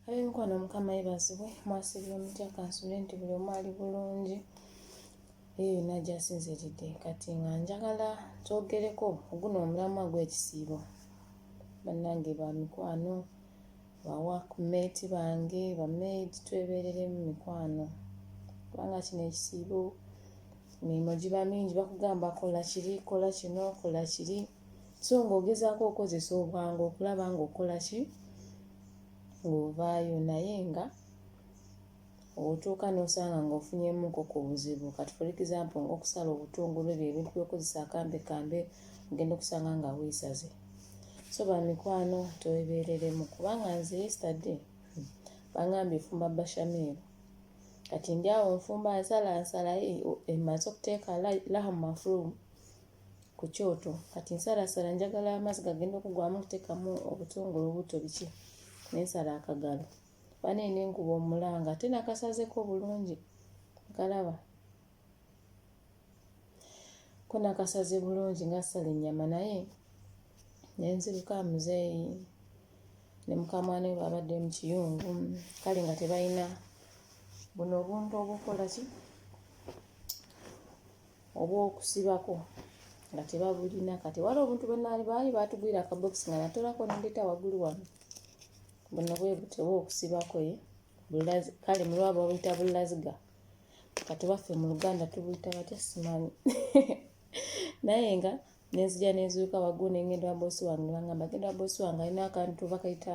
ab'emikwano mukama yebazibwe mwasibira omutya kansule nti buli omu ali bulungi eyo yonna gyasinziridde kati nga njagala twogereko oguno omulamwa gw'ekisiibo bannange ba mikwano bawakumeeti bange bamaidi twebereremu mikwano kubanga kino ekisiibo emirimu giba mingi bakugamba kola kiri kola kino kola kiri so ng'ogezaako okozesa obwangu okulaba ng'okola ki ng'ovaayo naye nga otuuka n'osanga ng'ofunyemuko ku buzibu kati for example ng'okusala obutungulu ebyo ebintu byokozesa akambe kambe ogenda okusanga nga weesaze so bamikwano twebeereremu kubanga nze yesterday hmm, bangambye efumba bashamiru kati ndi awo nfumba nsala nsalaye emaze okuteeka lahamu mafulumu ku kyoto kati nsalaasala njagala amazzi gagenda okugwamu kuteekamu obutungulu obuto biki nensala akagalo bane nenkuba omulanga ate nakasazeko bulungi nkalaba ko nakasaze bulungi nga sala ennyama naye nenziruka muzeeyi ne mukamwana we babadde mu kiyungu kale nga tebalina buno obuntu obukola ki obw'okusibako nga tebabulina kati wali obuntu bwenaali baali baatugwira akabokisi nga natolako nendeeta waggulu wano buno bwe butewa okusibako ye kale mulwaba babuyita bulaziga kati baffe mu luganda tubuyita batya simanyi naye nga nenzija nenzuuka waggulu nengenda wabosi wange nebangamba genda wabosi wange alina akantu bakayita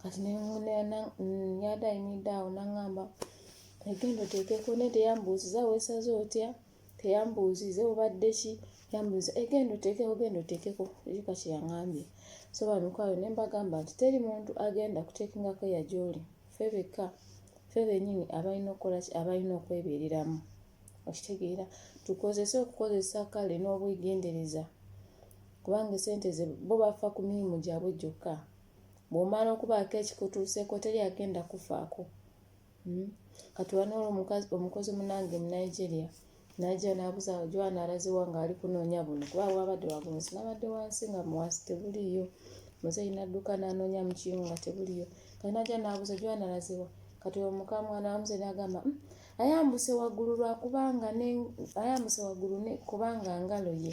kati yada ayimiridde awo naŋamba egenda oteekeko naye teyambuuziza weesaze otya teyambuuziza obadde ki yambuuza egenda oteekeko genda oteekeko ekika kye yaŋambye so bamikwalo ne mbagamba nti teri muntu agenda kuteekingako yagyoli fe bekka fe benyini abalina okukola ki abalina okwebeereramu okitegeera tukozese okukozesa kale n'obwegendereza kubanga esente ze bo bafa ku mirimu gyabwe gyokka bw'omala okubaako ekikutuuseeko teri agenda kufaako hmm? kati wanoolo omukozi munange mu nigeria najja n'abuza jwana alaziwa ng'ali kunoonya buno kuba bwabadde wagunsi nabadde wansi nga muwasi tebuliiyo muzeeyi nadduka n'anoonya mu kimu nga tebuliiyo kati najja n'abuza jwana alaziwa kati omukamwa n'amuze n'agamba hmm, ayambuse waggulu lwakubanga ayambuse waggulu kubanga ngalo ye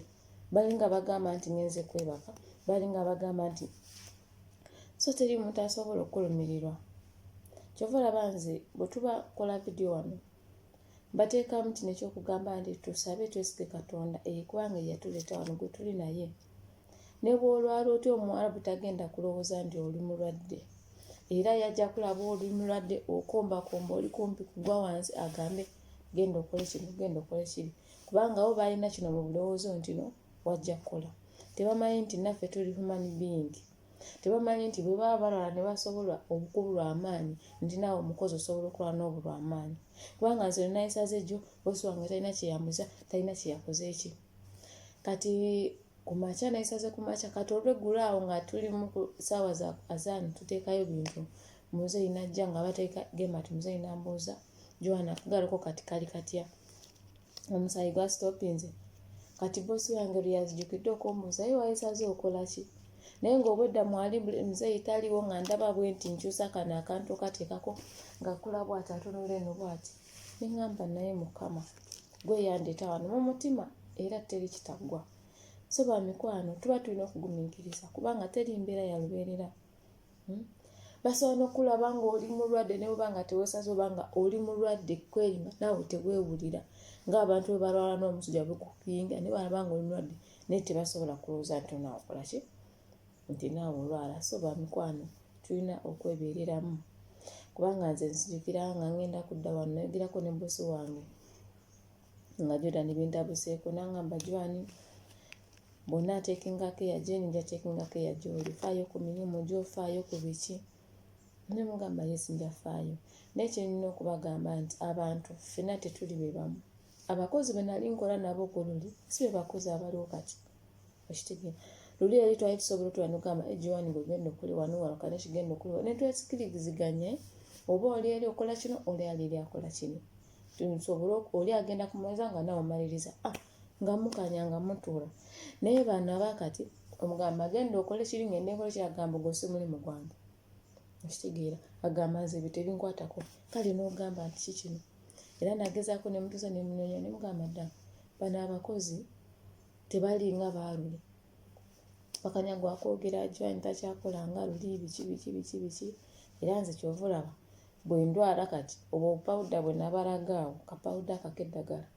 balinga bagamba nti ngenze kwebaka balinga bagamba nti so teri muntu asobola okukulumirirwa kyova olaba nze bwe tuba kola vidiyo wano mbateekamu kino ekyokugamba nti tusabe twesige katonda eyekubanga eyatuleeta wano gwe tuli naye ne bwolwala otya omuwarabu tagenda kulowooza nti oli mulwadde era yajja kulaba oli mulwadde okombakomba oli kumpi kugwa wansi agambe genda okole kino genda okole kiri kubanga bo baalina kino mu bulowoozo nti no wajja kukola tebamanyi nti naffe tuli human being tebamanyi nti bwe baba balwala ne basobola okubulwa amaanyi nti naawe omukozi osobola okulwala n'obulwa amaanyi kubanga nze nayisaze jjo bosi wange talina kyeyambuza talina kyeyakoze ki kati ku makya nayisaze ku makya kati olweggulo awo nga tuli mu saawa za azaani tuteekayo bintu muzeeyi najja nga bateeka gemati muzeeyi nambuuza joana kugaliko kati kali katya kati omusayi gwa stopinze kati bosi wange luyazijukidde okumbuuza ye wayesaze okola ki naye ngaobwedda mwali muzeyi taliwo nga ndaba bwe nti nkyusa kano akantu katekako nga kula bwati atunula eno bwati neŋamba naye mukama gweyandeta wano mu mutima era teri kitaggwa so bamikwano tuba tulina okugumiikiriza kubanga teri mbeera yalubeerera hmm? basobola nokulaba nga oli mulwadde neweba nga tewesaza oba nga oli mulwadde kwerima naawe tewewulira ngaabantu webalwala nomusujja bikupinga nebalaba nga oli mulwadde naye tebasobola kulowooza nti onaakolaki nti naawe olwala so bamikwano tulina okwebereramu kubanga nze nzijukira nga ngenda kudda wano nayogerako ne bosi wange nga jordan bintabuseeko nangamba jwani bonna ateekingako eya jeni nja teekingako eya gyoli faayo ku mirimu gyo faayo ku biki ne mugamba yesi nja faayo naye kyenina okubagamba nti abantu ffena tetuli be bamu abakozi be nali nkola nabo ku luli si be bakozi abaliwo kati okitegeera luli yali twali tusobola otula nogamba egiwani eh, gwegenda okuli wano walukane kigenda okuli ne twesikiriziganye oba oli eri okola kino oli ali eri akola kino nsobole oli agenda kumaliza nga nawe omaliriza ah, nga mukanya nga mutuula naye baana abakati omugamba agenda okole kiri ngende nkole kiragamba ogwo si mulimu gwange okitegeera agamba nze ebyo tebinkwatako kale n'ogamba nti kikino era nagezaako nemutuusa nemunonya nemugamba ddala bano abakozi tebali nga baalule bakanya gwakwogera ajwani takyakola nga luli biki biki biki biki era nze kyova olaba bwe ndwala kati obwo obupawuda bwe nabalaga awo kapawuda akako eddagala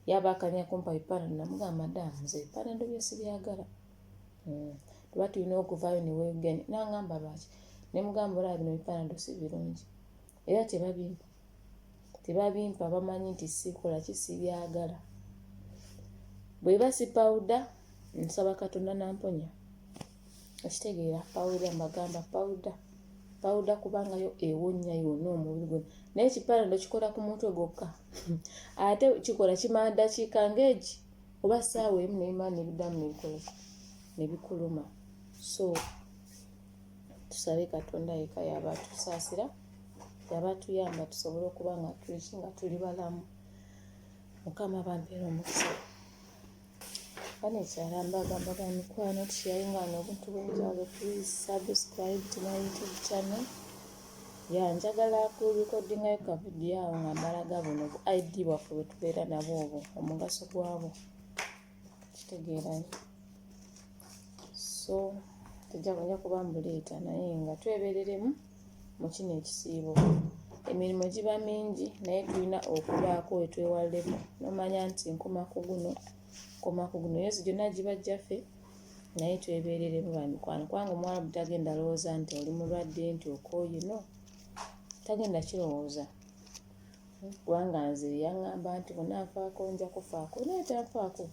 yaba akanya kumpa bipanado namugamba madaamu nze ebipanado bye sibyagala hmm. tuba tulina okuvaayo ne weegenda nangamba lwaki ne mugamba olaba bino bipanado si birungi era tebabimpa tebabimpa bamanyi nti sikola ki sibyagala bweba sipawuda nsaba katonda namponya okitegeera pawuda mbagamba pawuda pawuda kubanga yo ewonnya yonna omubiri gwe naye kipanado kikola ku mutwe gwokka ate kikola kimala ddakiika ngaegi oba saawa emu nebimala nebiddamu nebikolaki nebikuluma so tusabe katonda yeka yaba tusaasira yaba tuyamba tusobole okuba nga tuliki nga tuli balamu mukama bampeera omukisa banekyala mbagamba ba mikwano tusharinga no obuntu bwenjawulo please subscribe to my youtube channel ya njagala ku recordinga ka video awo nga mbalaga buno bu id bwaffe bwetubeera nabo obwo omugaso gwabwo kitegeerayo so tujja kuja kuba mbuleeta naye nga twebereremu mu kino ekisiibo emirimu giba mingi naye tulina okubaako wetwewalleku nomanya nti nkoma ku guno nkoma ku guno yozi gyonna giba jjaffe naye twebereremu bamikwano kubanga omuwalabu tagenda alowooza nti oli mulwadde nti okooye no tagenda kirowooza kubanga nze yaŋŋamba nti bonna nfaako nja kufaako naye tanfaako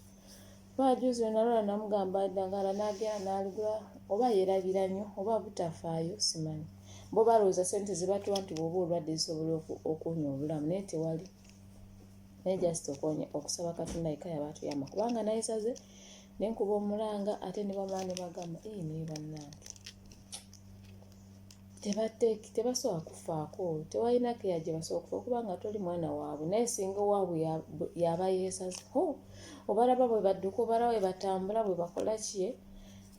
Baajuuzi lwe nalwala namugamba eddagala n'agenda n'aligula oba yeerabira nnyo oba butafaayo simanyi. Bo balowooza ssente ze batuwa nti bw'oba olwadde zisobola okuwonya obulamu naye tewali naye just okuwonya okusaba Katonda yekka yaba atuyamba kubanga nayesaze ne nkuba omulanga ate ne bamala ne bagamba ee naye bannange tebateeki tebasobola kufaako tewalina keya gye basobola kufa kubanga toli mwana waabwe naye singa owaabwe yaba yeesaze ho obalaba bwe badduka obalaba bwe batambula bwe bakola kiye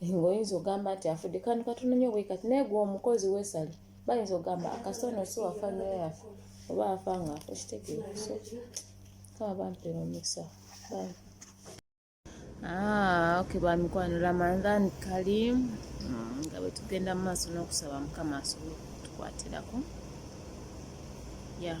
ng'oyinza ogamba nti afudde kandi katonda nyo bwe kati naye gwe omukozi weesale bayinza ogamba akasona si wafa nyo yafa oba afa ng'afa okitegeera so kaba bampera omukisa bambi Ah, okay bamikwano ramadhan karim mm, nga bwe tugenda mu maaso n'okusaba mukama asobole okutukwatirako ya yeah.